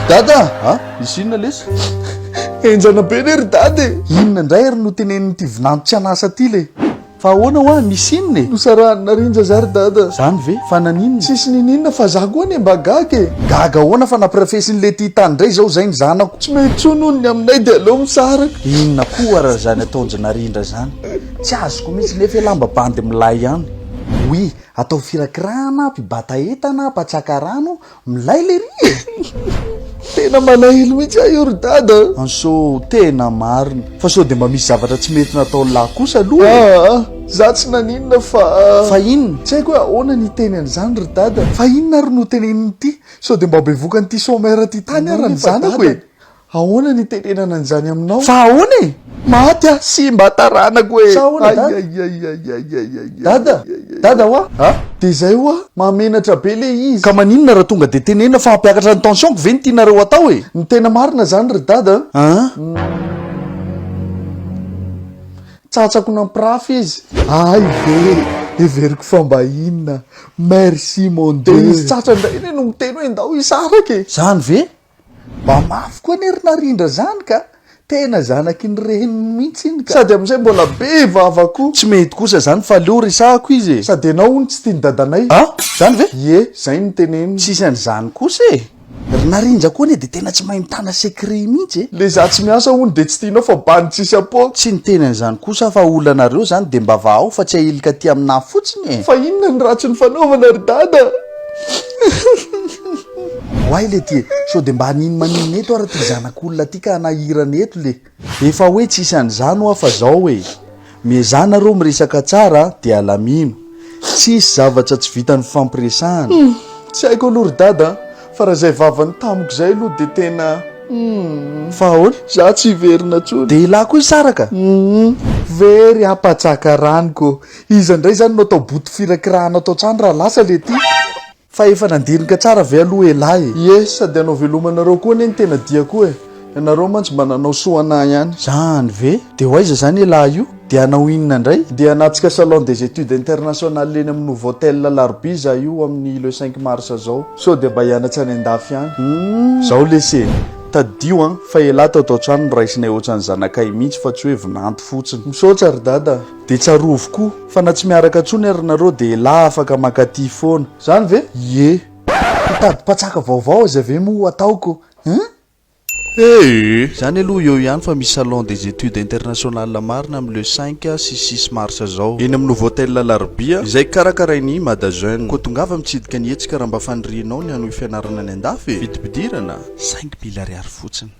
dada a misy inona lesy enjana be ne ry dada e inona indray ary no tenen'nyity vinanto tsy anasa ty le fa ahoana hoa misy inona e nosarahany narinja za ry dada zany ve fa naninona tsisy nininona fa za koa anie mba gaga e gaga ahoana fa nampirafesin'le ty tany indray zao zay ny zanako tsy mety tsoa noho ny aminay de aleo misaraka inona koa raha zany ataonjy narindra zany Tsy azoko mihitsy nefa e lamba bandy milay ihany. Oui, atao firakirahana, mpibata entana, mpatsaka rano, milay lery e! Tena malahelo mihitsy aho io ry dada a! Anso, tena marina. Fa sao dia mba misy zavatra tsy mety nataon'i lahy kosa aloha e! Aa, za tsy naninona fa. Fa inona? Tsy haiko hoe ahoana ny hiteny an'izany ry dada. Fa inona ary no tenenin'ity? Sao dia mba bevokan'ity sommaire ity tany ary ny zanako e! Ahoana ny hitenenana an'izany aminao? Fa ahoana e! Maty aho, simba taranako e! Sa ahoana dada? Dada, dada hoa! A! Dia izay hoa, mahamenatra be le izy. Ka maninona raha tonga dia tenenina fa hampiakatra ny tension-ko ve no tianareo hatao e! Ny tena marina izany ry dada a! Tsatsako nampirafy izy. Hay ve! Heveriko fa mba inona! Merci mon Dieu! Dia izy tsatsany indray anie no miteny hoe ndao hisaraka e! Izany ve? Mba mafy koa anie ry Narindra zany ka! Tena zanaky ny reniny mihitsy iny ka! Sady amin'izay mbola be vava koa! Tsy mety kosa zany fa aleo resahako izy e! Sady ianao hono tsy tian'i dadanay! Ah! Zany ve? Ie, zay no teneniny! Tsisy an'izany kosa e! Ry Narindra koa anie dia tena tsy mahay mitana secret mihitsy e! Le za tsy miasa hono dia tsy tianao fa bandy tsisy apoaka! Tsy niteny an'izany kosa aho fa olanareo zany dia mba vahao fa tsy ahilika aty amin'ahy fotsiny e! Fa inona ny ratsy nifanaovana ry dada? Oay le ty e! Sao de mba hanino manino eto ary ty zanak'olona ty ka hanahirana eto le. Efa hoe tsisy an'izany hoa fa zao e! Miezaha nareo miresaka tsara de alamino. Tsisy zavatra tsy vitan'ny fifampiresahana. Hum! Tsy haiko aloha ry dada a! Fa raha izay vavany tamiko izay aloha dia tena hum! Fa ahoana? Za tsy hiverina tsony. Dia elah koa hisaraka? Hum! Very ampatsaka rano ko! Iza indray izany no atao boto firakirahana ato an-trano raha lasa le ty? Fa efa nandinika tsara ve aloha elah e. Ie, sady anao velomanareo koa anie ny tena dia koa e. Ianareo mantsy mba nanao soa anah ihany. Zany ve? Dia ho aiza zany elah io? Dia hanao inona indray? Dia hanatsika salon des etudes internationales eny amin'ny Novotel alarobia zah io amin'ny le cinq mars zao. Sao dia mba hianatra any an-dafy ihany. Humm. Zao lesy e. Tadidio an, fa elah tao tao-trano no raisinay ohatran'ny zanakay mihitsy fa tsy hoe vinanto fotsiny. Misaotra ry dada a. Dia tsarovy koa fa na tsy miaraka intsony ary nareo dia elah afaka mankaty foana. Zany ve? Ie. Hitady mpatsaka vaovao aiza ve moa ataoko hein? Ee. Zany aloha eo ihany fa misy salon des etudes internationales marina am le cinq sy six mars zao eny am Novotel Alarobia izay karakarain i Mada Jeune. Koa tongava mitsidika ny hetsika raha mba fanirianao ny hanohy fianarana any andafy e! Vidim-pidirana? Cinq mille ariary fotsiny.